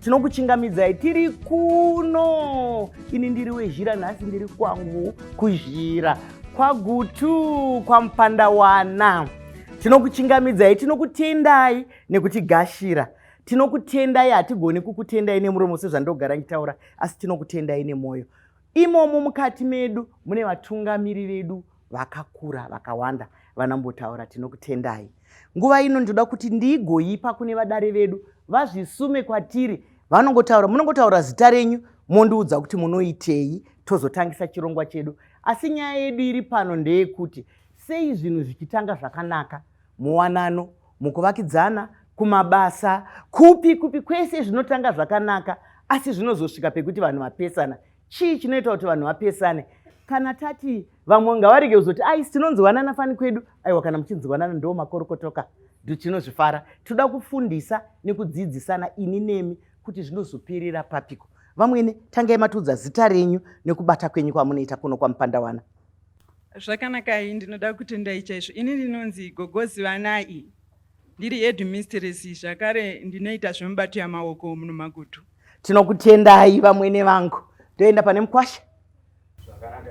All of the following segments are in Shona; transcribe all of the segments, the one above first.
tinokuchingamidzai tiri kuno ini ndiri wezhira nhasi ndiri kwangu kuzhira kwagutu kwamupandawana tinokuchingamidzai tinokutendai nekutigashira tinokutendai hatigoni kukutendai nemuromo sezvandogara ngitaura asi tinokutendai nemwoyo Imomo mukati medu mune vatungamiri vedu vakakura vakawanda vanambotaura tinokutendai nguva ino ndinoda kuti ndiigoipa kune vadare vedu vazvisume kwatiri vanongotaura munongotaura zita renyu mondiudza kuti munoitei tozotangisa chirongwa chedu asi nyaya yedu iri pano ndeyekuti sei zvinhu zvichitanga zvakanaka muwanano mukuvakidzana kumabasa kupi kupi kwese zvinotanga zvakanaka asi zvinozosvika pekuti vanhu vapesana chii chinoita kuti vanhu vapesane kana tati vamwe ngavarege kuzoti aisi tinonzwanana fani kwedu aiwa kana muchinzwanana ndo makorokotoka ndo tinozvifara tinoda kufundisa nekudzidzisana ini nemi kuti zvinozoperera papiko vamwene tangai matiudza zita renyu nekubata kwenyu kwamunoita kuno kwamupandawana Zvakanakai ndinoda kutendai chaizvo. Ini ndinonzi Gogo Zivanai. Ndiri headmistress zvakare ndinoita zvemubato yamaoko muno Magutu. Tinokutendai vamwene vangu. Toenda pane mukwasha. Zvakanaka.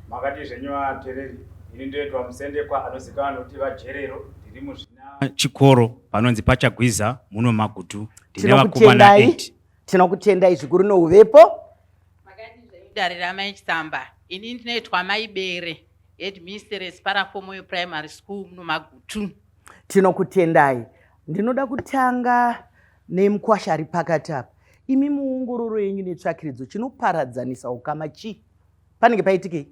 Makati zvenyu vatereri. Ini ndoitwa musendekwa anozikanwa nokuti vajerero ndiri muzvina chikoro panonzi pachagwiza muno Magutu. Ndine vakomana 8. tinokutendai zvikuru nouvepo dare ramai chitsamba ini ndinoitwa mai bere headmistress parafomoyo primary school muno magutu tinokutendai ndinoda kutanga nemukwasha ari pakati apa imi muongororo yenyu netsvakiridzo chinoparadzanisa ukama chii panenge paitikei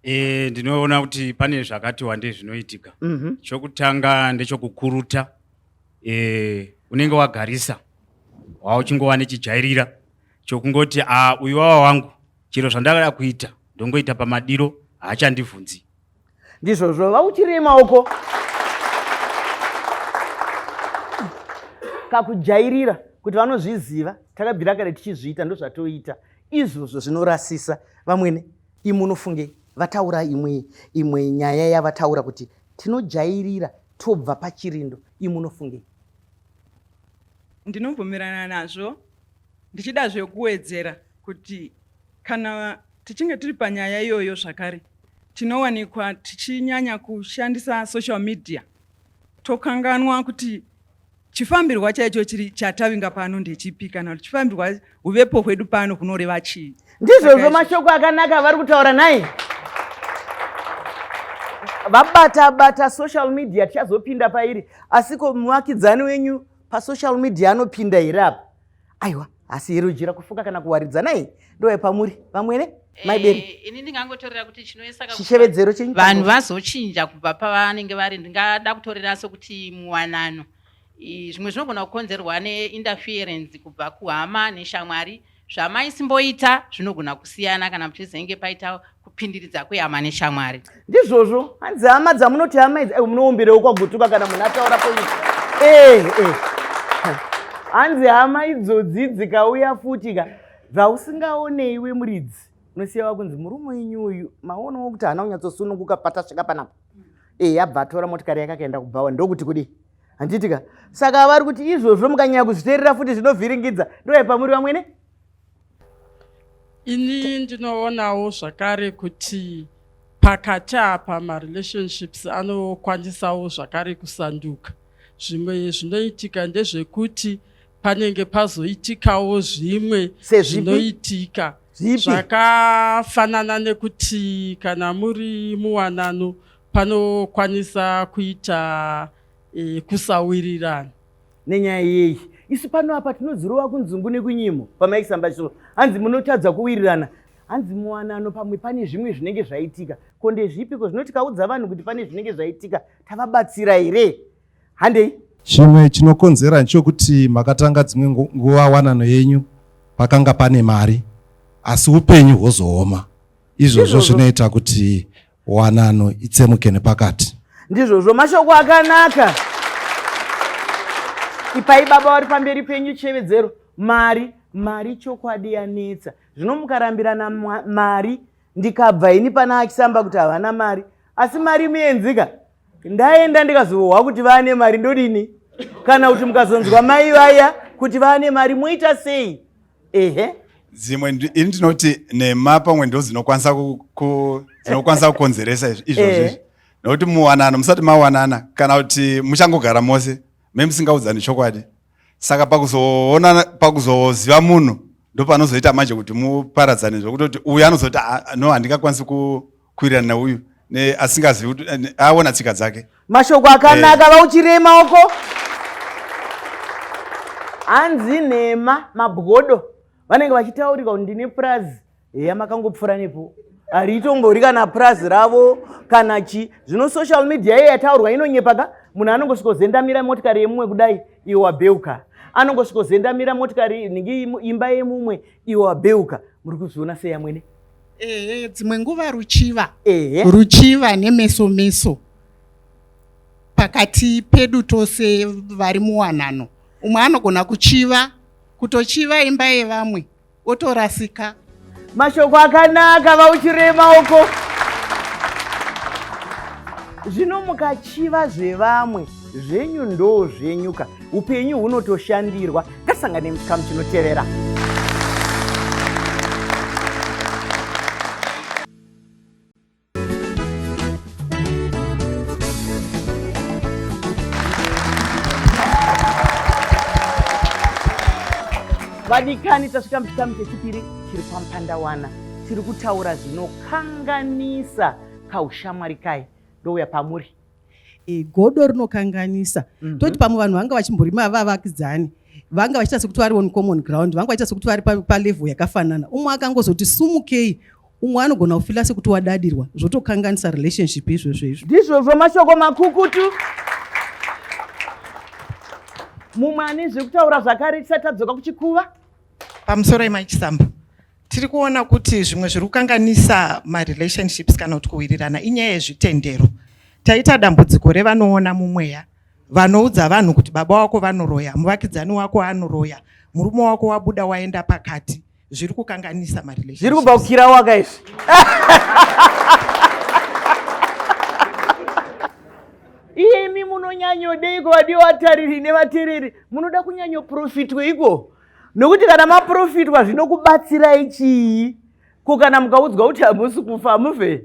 e, ndinoona kuti pane zvakati wandei zvinoitika mm -hmm. chokutanga ndechokukuruta eh, unenge wagarisa wava uchingova nechijairira chokungoti a ah, uyu wava wangu chero zvandakada kuita ndongoita pamadiro haachandivhunzi ndizvozvo vauchirima uko kakujairira kuti vanozviziva takabvira kare tichizviita ndozvatoita izvozvo zvinorasisa vamwene imunofunge vataura imwe imwe nyaya yavataura kuti tinojairira tobva pachirindo imi unofungei ndinobvumirana nazvo ndichida zvekuwedzera kuti kana tichinge tiri panyaya iyoyo zvakare tinowanikwa tichinyanya kushandisa social media tokanganwa kuti Chifambirwa chaicho chiri chatavinga pano ndechipi kana kuti chifambirwa uvepo hwedu pano hunoreva chii? Ndizvozvo mashoko akanaka avari kutaura nhai? Vabata bata social media tichazopinda pairi asiko muvakidzani wenyu pasocial media anopinda here apa? aiwa asi here ujira kufuka kana kuwaridza nai ndoye pamuri vamwene maiberi eh, ini ndingangotorera kuti chinoesachishevedzero chenyu vanhu vazochinja kubva pavanenge vari ndingada kutorera sokuti muwanano zvimwe zvinogona kukonzerwa neinterference kubva kuhama neshamwari zvamaisimboita zvinogona kusiyana kana muchizenge paita kupindiridza kwehama neshamwari ndizvozvo hanzi hama dzamunoti hama idzi munoumbirewo kwagutuka kana munhu ataura poiti eh, eh. hanzi hama idzodzi dzikauya futi ka dzausingaone iwe muridzi unosiya wakunzi murume wenyu uyu maonawo kuti haana kunyatsosununguka patasvika panapa e eh, abva atora motikari yake akaenda kubhawa ndokuti kudii handiti ka saka vari kuti izvozvo mukanyanya kuzviterera futi zvinovhiringidza ndoyepamuri vamwene Ini ndinoonawo zvakare kuti pakati apa marelationships anokwanisawo zvakare kusanduka. Zvimwe zvinoitika ndezvekuti panenge pazoitikawo zvimwe zvinoitika zvakafanana nekuti kana muri muwanano panokwanisa kuita e, kusawirirana nenyaya yei isu pano apa tinozirova kunzungu nekunyimo pamaisamba so hanzi munotadza kuwirirana hanzi muwanano pamwe pane zvimwe zvinenge zvaitika ko ndezvipi ko zvinoti kaudza vanhu kuti pane zvinenge zvaitika tavabatsira here handei chimwe chinokonzera ndechokuti makatanga dzimwe nguva wanano yenyu pakanga pane mari asi upenyu hwozooma izvozvo zvinoita kuti wanano itsemuke nepakati. Ndizvozvo mashoko akanaka. Ipai baba vari pamberi penyu chevedzero. Mari, mari chokwadi yanetsa. Zvino mukarambirana mari ndikabva ini pana achisamba kuti havana mari. Asi mari muenzika. Ndaenda ndikazohwa kuti vane mari ndodini? Kana kuti mukazonzwa mai vaya kuti vane mari moita sei? ehe dzimwe ini ndinoti nhema pamwe ndo dzinokwanisa dzinokwanisa kukonzeresa izvozvi eh. nokuti muwanano musati mawanana kana kuti muchangogara mose me musingaudzani chokwadi saka pakuzoona pakuzoziva munhu ndopanozoita manje kuti muparadzane zvekutoti uyu anozoti ah, no handingakwanisi ku kuwirirana nauyu asingazivi kuti eh, aona tsika dzake mashoko akanaka eh. vauchirei maoko hanzi nhema mabwodo vanenge vachitaurika kuti ndine purazi heya makangopfuura nepo hariitongori kana purazi ravo kana chi zvino social media iye yataurwa inonyepa ka munhu anongosvikozendamira motikari yemumwe kudai iwe wabeuka anongosvikozendamira motikari nhingi imba yemumwe iwe wabeuka muri kuzviona sei amwene ehe dzimwe nguva ruchiva ehe ruchiva nemeso meso pakati pedu tose vari muwanano umwe anogona kuchiva kutochiva imba yevamwe otorasika mashoko akanaka vauchirema uko zvino mukachiva zvevamwe zvenyu ndoo zvenyuka upenyu hunotoshandirwa Ngasangane muchikamu chinotevera. vadikani tasvika muchikamu chechipiri chiri pamupandawana tiri kutaura zvinokanganisa kaushamwari kai ndouya pamuri e, godo rinokanganisa mm -hmm. toti pamwe vanhu vanga vachimborima vavakidzani vanga vachiita sekuti vari on common ground vanga vachiita sekuti vari palevel yakafanana umwe akangozoti sumukei umwe anogona kufila sekuti wadadirwa zvotokanganisa relationship izvozvo izvo ndizvozvo mashoko makukutu mumwe ane zvekutaura zvakare tisati tadzoka kuchikuva pamusoro yemai chisambo tiri kuona kuti zvimwe zviri kukanganisa marelationships kana kuti kuwirirana inyaya yezvitendero taita dambudziko revanoona mumweya vanoudza vanhu kuti baba wako vanoroya muvakidzani wako anoroya murume wako wabuda waenda pakati zviri kukanganisa marelationships kubva kukira waka izvi imi munonyanyodeiko vadiwa vatariri nevatereri munoda kunyanyoprofitweiko nokuti kana maprofitwa zvinokubatsirai chii ko kana mukaudzwa kuti hamusi kufa hamufe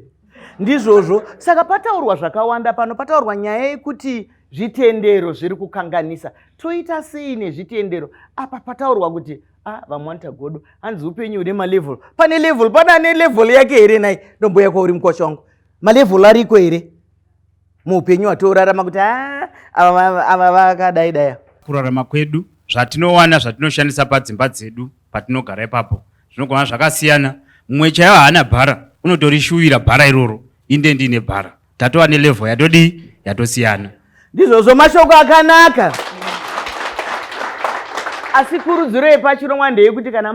ndizvozvo saka pataurwa zvakawanda pano pataurwa nyaya yekuti zvitendero zviri kukanganisa toita sei nezvitendero apa pataurwa kuti a ah, vamwanita godo hanzi upenyu hune malevel pane level pane ane level yake here nai ndomboya kwauri mukwasha wangu malevel ariko here muupenyu watiorarama kuti ah, ava vakadai daya kurarama kwedu zvatinowana zvatinoshandisa padzimba dzedu patinogara ipapo zvinogona zvakasiyana mumwe chaiyo haana bhara unotorishuvira bhara iroro inde ndiine bhara tatova nelevhel yatodii yatosiyana ndizvozvo mashoko akanaka asi kurudziro yepachirongwa ndeyekuti kana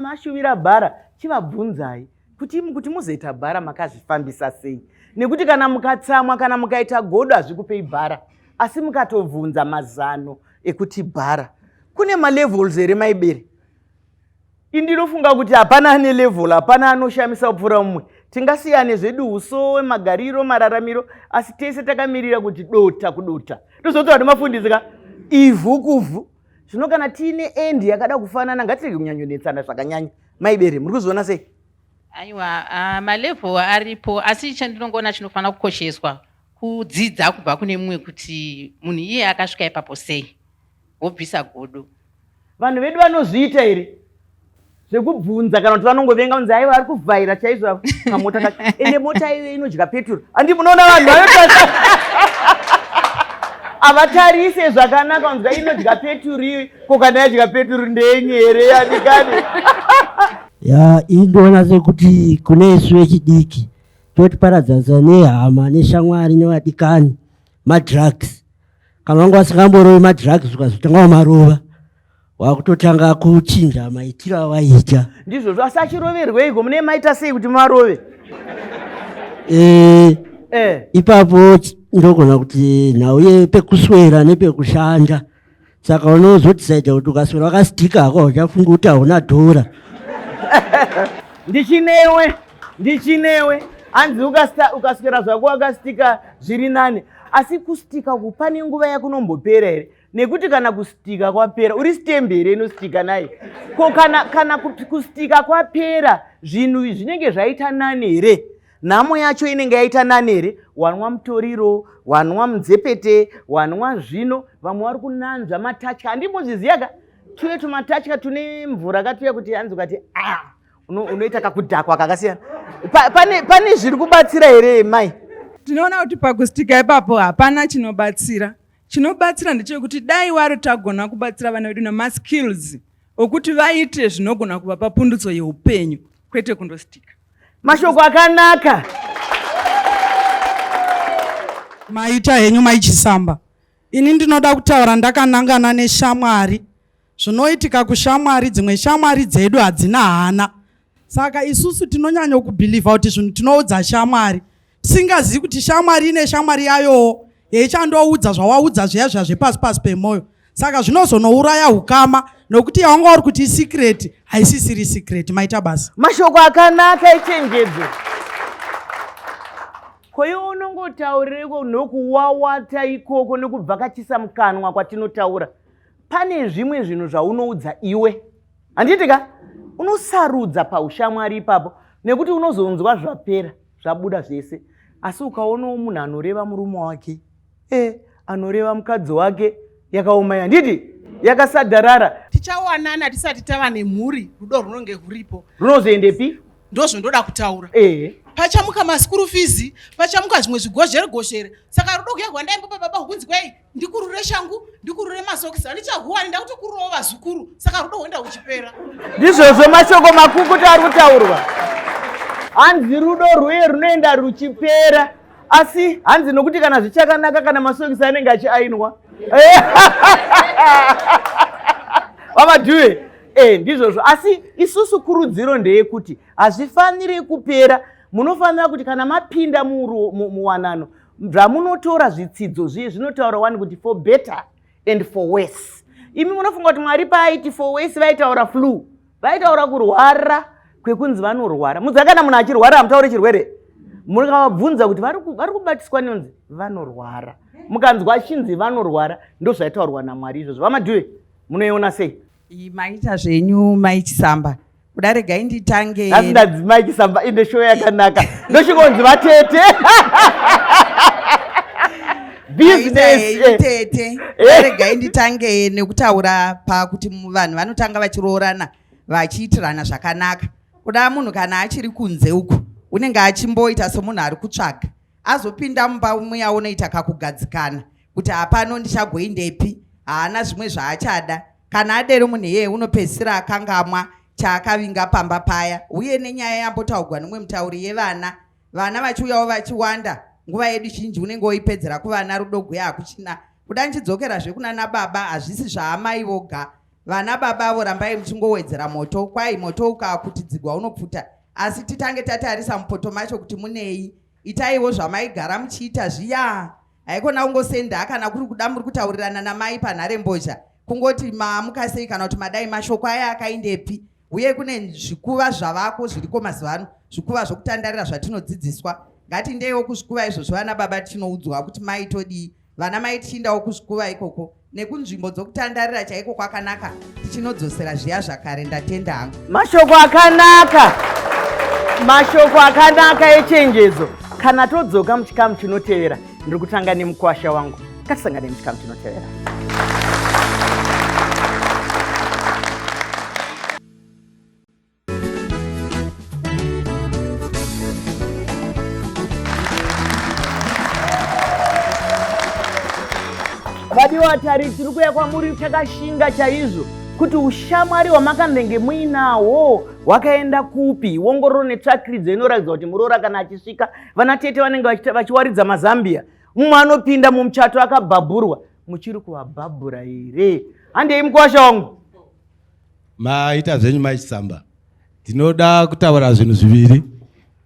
mashuvira ma, ma bhara chivabvunzai kuti kuti muzoita bhara makazvifambisa sei nekuti kana mukatsamwa kana mukaita godo hazvikupei bhara asi mukatobvunza mazano ekuti bhara kune malevels here maibere indinofunga kuti hapana ane level hapana anoshamisa kupfuura mumwe tingasiyane zvedu usowe magariro mararamiro asi tese takamirira kuti dota kudota ndozoti vati mafundisi ka ivhu kuvhu zvino kana tiine endi yakada kufanana ngatirege kunyanyonetsana zvakanyanya maibere muri kuzviona sei aiwa uh, malevel aripo asi chandinongoona chinofanira kukosheswa kudzidza kubva kune mumwe kuti munhu iye akasvika ipapo sei wobvisa godo vanhu vedu vanozviita here zvekubvunza kana kuti vanongovenga kunzi aiwa ari kuvhaira chaizvo kamota kacho ende mota iyo inodya peturu handi munoona vanhu vayo havatarise zvakanaka kunzi inodya peturu iyo Ko kana yadya peturu ndenye here yadikani? Ya indoona sekuti kune isu vechidiki totiparadzanisa nehama neshamwari nevadikani madrugs kana wanga wasingamborovi madrugs ukazotanga wamarova wakutotanga kuchinja maitiro awaita ndizvozvo asi achiroverweiko mune maita sei kuti marove eh, eh. ipapo ndogona kuti nhau yepekuswera nepekushanda saka unozotisaidza kuti ukaswera wakastika hako uchafunga kuti hauna dhora ndichinewe ndichinewe hanzi ukaswera zvako wakastika zviri nani asi kustika uku pane nguva yakunombopera here nekuti kana kustika kwapera uri stembe here inostika naye ko kana, kana kustika kwapera zvinhu zvinenge zvaita nani here nhamo yacho inenge yaita nani here wanwa mutoriro wanwa munzepete wanwa zvino vamwe vari kunanzva matatya handimbozviziva ka tuye tumatatya tune mvura katuya kuti hanzi ukati a unoita kakudhakwa kakasiyana pane zviri kubatsira here mai tinoona kuti pakustika ipapo hapana chinobatsira chinobatsira ndechekuti dai wari tagona kubatsira vana vedu nemaskills okuti vaite zvinogona kuvapa pundutso yeupenyu kwete kundositika mashoko akanaka maita henyu maichisamba ini ndinoda kutaura ndakanangana neshamwari zvinoitika kushamwari dzimwe shamwari dzedu hadzina hana saka isusu tinonyanyo kubhilivha kuti zvinhu tinoudza shamwari singazivi kuti shamwari ine shamwari yayowo yeichandoudza zvawaudza zviya zviya zvepasi pasi pemwoyo saka zvinozonouraya ukama nokuti yawanga uri kuti isikireti haisisiri sikireti maita basa mashoko akanaka ichenjedzo koiwe unongotaurireko nokuwawata ikoko nokubvakachisa mukanwa kwatinotaura pane zvimwe zvinhu zvaunoudza iwe handiitika unosarudza paushamwari ipapo nekuti unozonzwa zvapera zvabuda zvese asi ukaonawo munhu anoreva murume wake e anoreva mukadzi wake yakaoma yanditi yakasadharara tichawanana tisati tava nemhuri rudo runonge ruripo runozoendepi ndozvondoda kutaura e pachamuka maskuru fizi pachamuka zvimwe zvigozheregozhere saka rudo kuya kwandaimbopa baba kunzi kwei ndikurure shangu ndikurure masokisi handichahuwani ndakutokururawo vazukuru saka rudo hwenda huchipera ndizvozvo mashoko makukuta ari kutaurwa hanzi rudo rwuye runoenda ruchipera asi hanzi nokuti kana zvichakanaka kana masokisi anenge achiainwa vamadhuwe e ndizvozvo asi isusu kurudziro ndeyekuti hazvifaniri kupera munofanira kuti kana mapinda muwanano zvamunotora zvitsidzo zviye zvinotaura wani kuti for better and for worse imi munofunga kuti mwari paaiti for worse vaitaura flu vaitaura kurwara kwekunzi vanorwara mudza kana munhu achirwara hamutaure chirwere mukavabvunza kuti vari kubatiswa nenonzi vanorwara mukanzwa achinzi vanorwara ndozvaitaurwa namwari izvozvo vamadhuwe munoiona sei Iyi maita zvenyu mai Chisamba. Kuda regai nditange. Asi ndadzi mai Chisamba ine show yakanaka. Ndoshikonzi vatete. businessitete eh. eh. regai nditange nekutaura pakuti vanhu vanotanga vachiroorana vachiitirana zvakanaka kuda munhu kana achiri kunze uku unenge achimboita somunhu ari kutsvaga azopinda mumba muya unoita kakugadzikana kuti hapano ndichagoindepi haana zvimwe zvaachada kana adero munhu iyeye unopedzisira akangamwa chaakavinga pamba paya uye nenyaya yambotaugwa nomwe mutauri yevana vana vachiuyawo vachiwanda nguva yedu zhinji unenge woipedzera kuvana rudo guya hakuchina kuda ndichidzokera zvekunana baba hazvisi zvaamai voga vana baba avo rambai muchingowedzera moto kwai moto ukakutidzigwa unopfuta asi titange tatarisa mupoto macho kuti munei itaiwo zvamaigara muchiita zviya haikona kungosenda kana kuri kuda muri kutaurirana namai panhare mbozha kungoti maamuka sei kana kuti madai mashoko aya akaindepi uye kune zvikuva zvavako zviriko mazuva ano zvikuva zvokutandarira zvatinodzidziswa ngatindewo kuzvikuva izvozvo vana baba tinoudzwa kuti mai todii vana mai tichindawo kuzvikuva ikoko nekunzvimbo dzokutandarira chaiko kwakanaka tichinodzosera zviya zvakare ndatenda hangu mashoko akanaka mashoko akanaka echenjedzo kana todzoka muchikamu chinotevera ndiri kutanga nemukwasha wangu katisangane muchikamu chinotevera vadiwa tari tiri kuya kwamuri chakashinga chaizvo kuti ushamwari hwamakandenge muinahwo hwakaenda kupi wongororo netsvakiridzo inoratidza kuti muroora kana achisvika vana tete vanenge vachiwaridza mazambia mumwe anopinda mumuchato akabhabhurwa muchiri kuvabhabhura here handei mukwasha wangu Maita zvenyu mai Chisamba. Ndinoda kutaura zvinhu zviviri.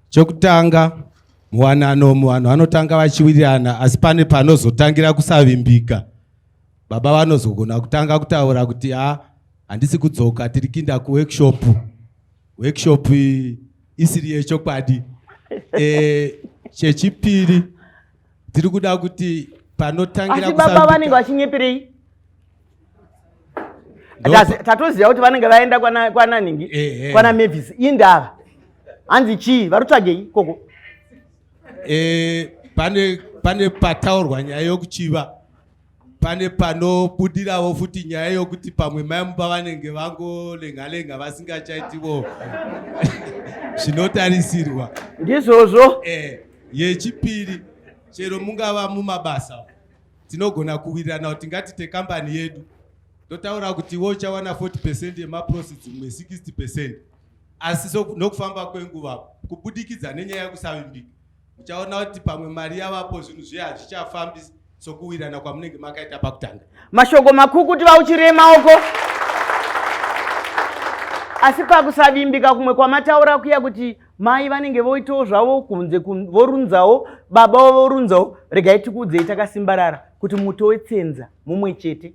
Chokutanga muwanano muvanhu vanotanga vachiwirirana asi pane panozotangira kusavimbika. Baba vanozogona kutanga kutaura kuti ha ah, handisi kudzoka tiri kinda kuworkshop. Workshop isiri yechokwadi. Eh chechipiri tiri kuda kuti panotangira asi baba vanenge vachinyepirei tatoziva kuti vanenge vaenda kwananhingi kwana mavis indava hanzi chii varutsvagei koko eh, pane pane pataurwa nyaya yokuchiva pane panobudirawo futi nyaya yokuti pamwe mai mumba vanenge vangolenga lenga vasingachaitiwo zvinotarisirwa ndizvozvo eh, yechipiri chero mungava mumabasa tinogona kuwirirana kuti ngatite kambani yedu ndotaura kuti iwo uchawana 40 percent yemaprofits mumwe 60 percent asi nokufamba kwenguva kubudikidza nenyaya yekusavimbika muchaona kuti pamwe mari yavapo zvinhu zviye hazvichafambi sokuwirana kwamunenge makaita pakutanga mashoko makukuti vauchirei maoko asi pakusavimbika kumwe kwamataura kuya kuti mai vanenge voitawo zvavo kunze vorunzawo baba vorunzawo regai tikuudzei takasimbarara kuti muto wetsenza mumwe chete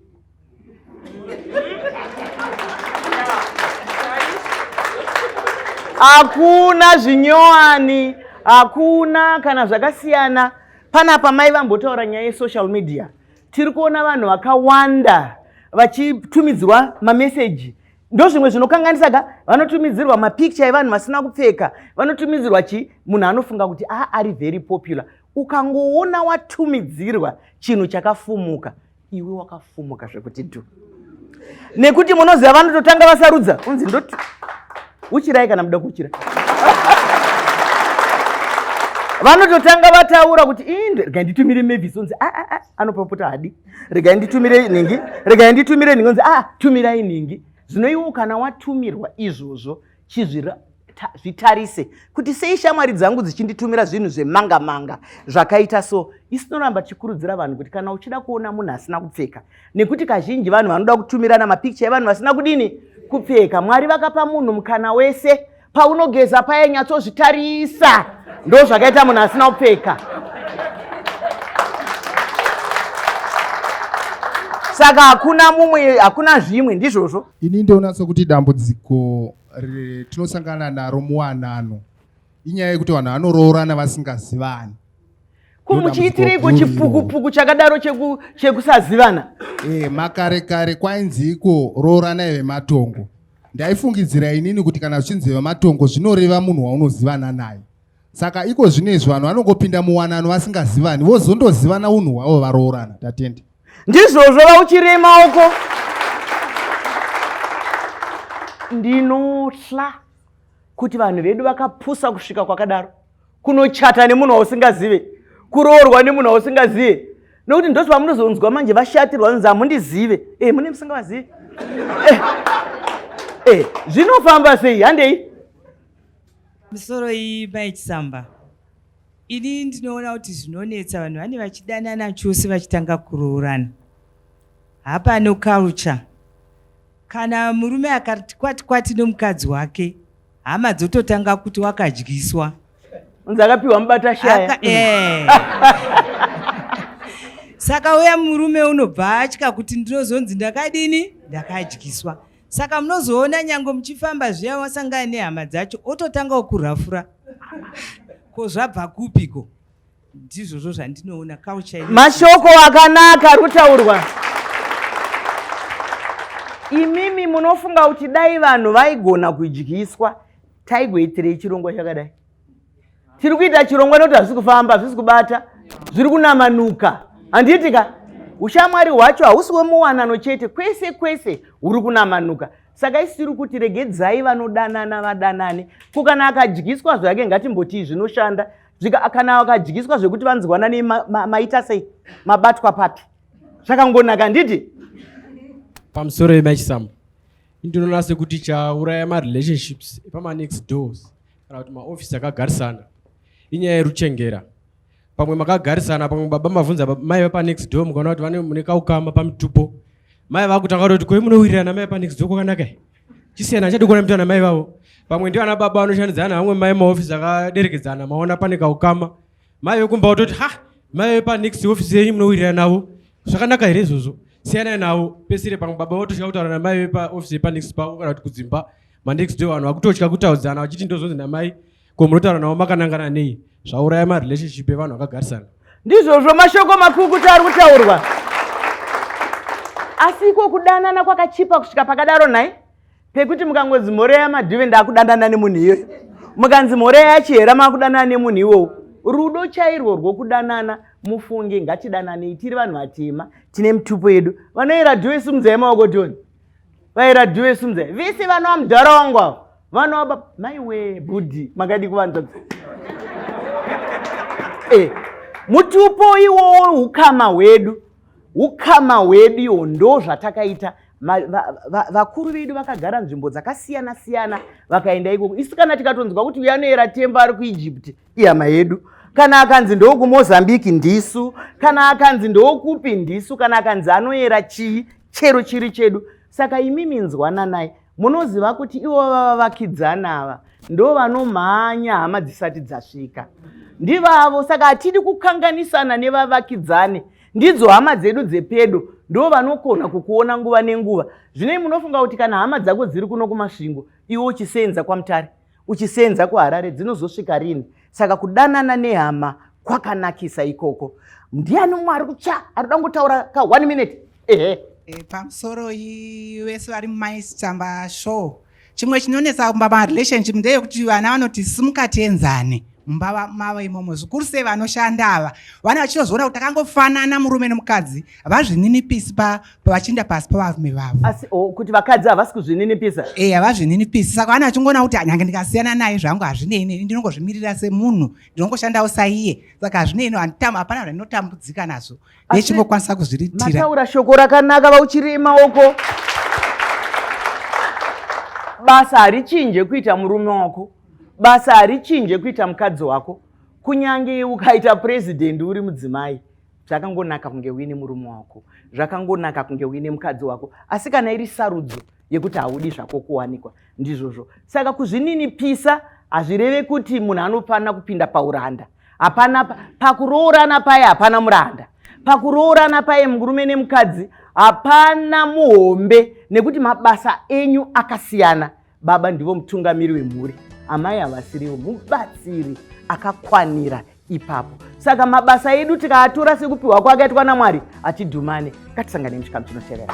hakuna zvinyowani hakuna kana zvakasiyana panapa mai vambotaura nyaya yesocial media tiri kuona vanhu vakawanda vachitumidzirwa mameseji ndozvimwe zvinokanganisa ga vanotumidzirwa mapicture evanhu vasina kupfeka vanotumidzirwa chii munhu anofunga kuti a ah, ari very popular ukangoona watumidzirwa chinhu chakafumuka iwe wakafumuka zvekuti dhu nekuti munoziva vanototanga vasarudza unzi ndoti uchirai kana muda kuchira vanototanga vataura kuti inde regai nditumire mavis onzi ah, ah, ah, anopapota hadi regai nditumire nhingi regai nditumire nhingi onzi a tumirai nhingi zvino iwo kana watumirwa izvozvo chizvira zvitarise kuti sei shamwari dzangu dzichinditumira zvinhu zvemanga manga zvakaita so isinoramba tichikurudzira vanhu kuti kana uchida kuona munhu asina kupfeka nekuti kazhinji vanhu vanoda kutumirana mapikicha evanhu vasina kudini kupfeka mwari vakapa munhu mukana wese paunogeza paye nyatsozvitarisa ndo zvakaita munhu asina kupfeka saka hakuna mumwe hakuna zvimwe ndizvozvo Ini ndoona sokuti dambudziko tinosangana naro muwanano inyaya yekuti vanhu vanoroorana vasingazivani ko muchiitireiko chipukupuku chakadaro chekusazivana e, makare kare kwainziiko rooranai vematongo ndaifungidzira inini kuti kana zvichinzi vematongo zvinoreva munhu waunozivana naye saka iko zvino izvi vanhu vanongopinda muwanano vasingazivani vozondozivana unhu hwavo varoorana tatende ndizvozvo vauchirema uko ndinotla kuti vanhu vedu vakapusa kusvika kwakadaro kunochata nemunhu wausingazive kuroorwa nemunhu wausingazive nokuti ndoti vamunozonzwa manje vashatirwa nzi hamundizive e eh, mune musingavazive e eh, eh, zvinofamba sei handei misoro iyi bai chisamba Ini ndinoona kuti zvinonetsa vanhu vane vachidanana chose vachitanga kuroorana. Hapano culture. Kana murume akati kwati kwati nomukadzi wake, hama dzototanga kuti wakadyiswa. Unzi akapiwa mubata shaya. Eh. Saka uya murume unobva atya kuti ndinozonzi ndakadini? Ndakadyiswa. Saka munozoona nyange muchifamba zviya wasangana nehama dzacho ototanga okurafura ko zvabva kupi ko ndizvozvo zvandinoona kauchai mashoko akanaka ari kutaurwa imimi munofunga kuti dai vanhu vaigona kudyiswa taigoitirei chirongwa chakadai tiri kuita chirongwa nekuti hazvisi kufamba hazvisi kubata zviri kunamanuka handiti ka ushamwari hwacho hausi wemuwanano chete kwese kwese huri kunamanuka saka isi tiri kuti regedzai vanodanana vadanane ko kana akadyiswa zvake ngatimbotii zvinoshanda kana akadyiswa zvekuti vanzwanane maita sei mabatwa papi zvakangonaka handiti pamusoro yemachisambo ndinoona sekuti chauraya marelationships epamanext doors kana kuti maofisi akagarisana inyaya yeruchengera pamwe makagarisana pamwe baba mavhunza mai vepanext door mukaona kuti vane mune kaukama pamitupo mai vakutanga kuti koi munowirirana mai panext door kwakanaka chisiyana achadi kuona mutana mai vavo pamwe ndio ana baba vanoshandidzana vamwe mai maofisi akaderekedzana maona pane kaukama mai vekumba kutoti ha mai vepanext ofisi yenyu munowirirana navo zvakanaka here izvozvo siyanai navo pesire pamwe baba votosvika kutaura namai vepaofisi yepanext pavo kana kuti kudzimba manext day vanhu vakutotya kutaudzana vachiti ndozonzi namai ko munotaura navo makanangana nei zvauraya marelationship evanhu vakagarisana ndizvozvo mashoko makukuta ari kutaurwa asi iko kudanana kwakachipa kusvika pakadaro nhai pekuti mukangonzi mhoreya madhuve ndaakudanana nemunhu iyoyo mukanzi mhoreya yachihera maakudanana nemunhu iwowo rudo chairwo rwokudanana mufunge ngatidananei tiri vanhu vatema tine mitupo yedu vanoera dhuve simudzai maoko tioni vairadiwe sumza vese vanova mudhara wangu avo vanova mai wee bhudhi makadi kuvanza eh, mutupo iwowo ukama hwedu ukama hwedu iwo ndo zvatakaita vakuru va, va, vedu vakagara nzvimbo dzakasiyana siyana vakaenda ikoko isu kana tikatonzwa kuti uya anoera tembo ari kuegypt ihama yedu kana akanzi ndokumozambique ndisu kana akanzi ndokupi ndisu kana akanzi anoera chii chero chiri chedu saka imimi nzwananai munoziva kuti ivo vava vakidzana ava ndo vanomhanya hama dzisati dzasvika ndivavo saka hatidi kukanganisana nevavakidzani ndidzo hama dzedu dzepedo ndo vanokona kukuona nguva nenguva zvinei munofunga kuti kana hama dzako dziri kuno kumasvingo iwe uchisenza kwamutare uchisenza kuharare dzinozosvika rini saka kudanana nehama kwakanakisa ikoko ndiani mumwe ari kutsva ari kuda kungotaura ka one minute ehe e, pamusoro vese vari mumaisitamba show chimwe chinonetsa kumba marelationship ndeyekuti vana vanoti simukati enzani mumbava mavo imomo zvikuru sei vanoshanda ava vane vachitozoona kuti takangofanana murume nemukadzi havazvininipisi pavachinda pasi pavarume vavo asi oh, kuti vakadzi havasi kuzvininipisa e havazvininipisi saka vane vachingoona kuti nyange ndikasiyana naye zvangu hazvinei neni ndinongozvimirira semunhu ndinongoshandawo saiye saka hazvinei no hapana zvandinotambudzika nazvo nechingokwanisa kuzviritira mataura shoko rakanaka vauchiri maoko basa harichinje kuita murume wako basa harichinje kuita mukadzi wako kunyange ukaita president uri mudzimai zvakangonaka kunge uine murume wako zvakangonaka kunge uine mukadzi wako asi kana iri sarudzo yekuti haudi zvako kuwanikwa ndizvozvo saka kuzvininipisa hazvireve kuti munhu anofanira kupinda pauranda hapana pakuroorana paye hapana muranda pakuroorana paye murume nemukadzi hapana muhombe nekuti mabasa enyu akasiyana Baba ndivo mutungamiri wemhuri, amai havasiriwo mubatsiri akakwanira ipapo. Saka mabasa edu tikaatora sekupiwa kwakaitwa naMwari achidhumane. Ngatisangane muchikamu chinotevera.